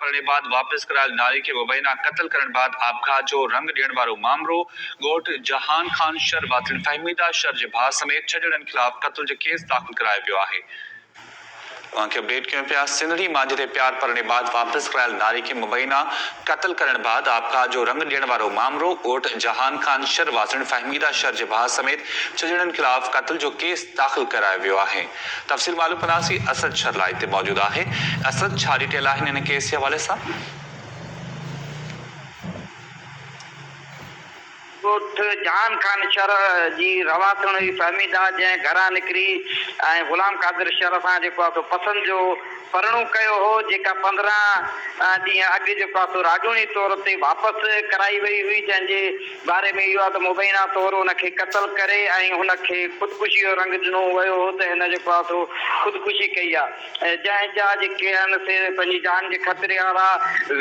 ڀرڻي بعد واپس ڪرايل ناري کي ووينا قتل ڪرڻ بعد آپگهات جو رنگ ڏيڻ وارو مامرو ڳوٺ جهان خان شر واٿين فهميده شر جي ڀاء سميت ڇهه ڄڻن خلاف قتل جو ڪيس داخل ڪرايو ويو آهي. اوهان کي اپڊيٽ ڪيون پيا سنڌڙي مانجهي تي پيار ڀرڻي بعد واپس ڪرايل ناري کي مبينا قتل ڪرڻ بعد آپگهات جو رنگ ڏيڻ وارو مامرو ڳوٺ جهان خان شر واٿين فهميده شر جي ڀاء سميت ڇهه ڄڻن خلاف قتل جو ڪيس داخل ڪرايو ويو آهي. تفصيل معلوم ڪنداسين اسد شھر لائيو تي موجود آھي اسد ڇا ڊيٽيل آھن ان ڪيس جي حوالي سان. ڳوٺ جھان خان شھر جي رھواسين ھئي فھميده جنھن گھران نڪري ۽ غلام قادر شھر سان جيڪو آھي سو پسند جو پرڻو ڪيو ھو جيڪا پندرهن ڏينهن اڳ جيڪو آھي سو راڄوڻي طور تي واپس ڪرائي وئي ھئي جنھن جي باري ۾ اهو آهي ته مبينا طور ان کي قتل ڪري ۽ هن کي خودڪشي جو رنگ ڏنو ويو هو ته هن جيڪو آهي سو خودڪشي ڪئي آهي جنهن جا جيڪي آهن سي پنهنجي جان جي خطري وارا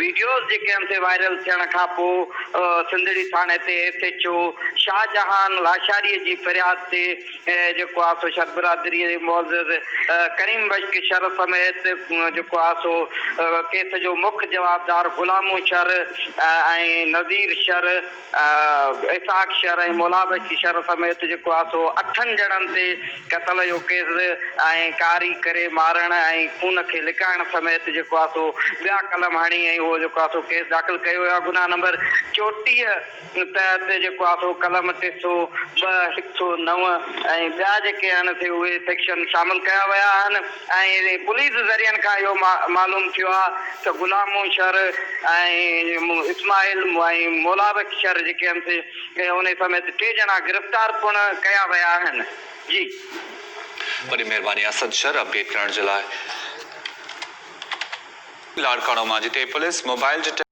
وڊيوز جيڪي آهن سي وائرل ٿيڻ کان پو سنڌڙي ٿاڻي تي S H O Shahjahan Lashari جي فرياد تي جيڪو آ سو شر برادريء جي معزز ڪريم بشڪ شر سميت جيڪو آ سو ڪيس جو مک جوابدار غلامو شر ۽ نذير شر، اسحاق شر ۽ مولا بشڪ شر سميت جيڪو آ سو اٺن ڄڻن تي قتل جو ڪيس ۽ ڪاري ڪري مارڻ ۽ خون کي لڪائڻ سميت جيڪو آ سو ٻيا قلم هڻي ۽ اهو جيڪو آ سو ڪيس داخل ڪيو ويو آ گناهه نمبر چوٽيهه. ان تحت جيڪو آسرو قلم ٽي سؤ ٻه، هڪ سؤ نو ۽ ٻيا جيڪي آهن سي اهي سيڪشن شامل ڪيا ويا آهن ۽ پوليس ذريعن کان اهو معلوم ٿيو آهي ته غلام مون شر ۽ اسماعيل ۽ مولابخش شر جيڪي آهن سي انهي سميت ٽي ڄڻا گرفتار پڻ ڪيا ويا آهن جي. وڏي مهرباني اسد شر اپڊيٽ ڪرڻ جي لاء. لاڙڪاڻو مان جتي پوليس موبائل جي.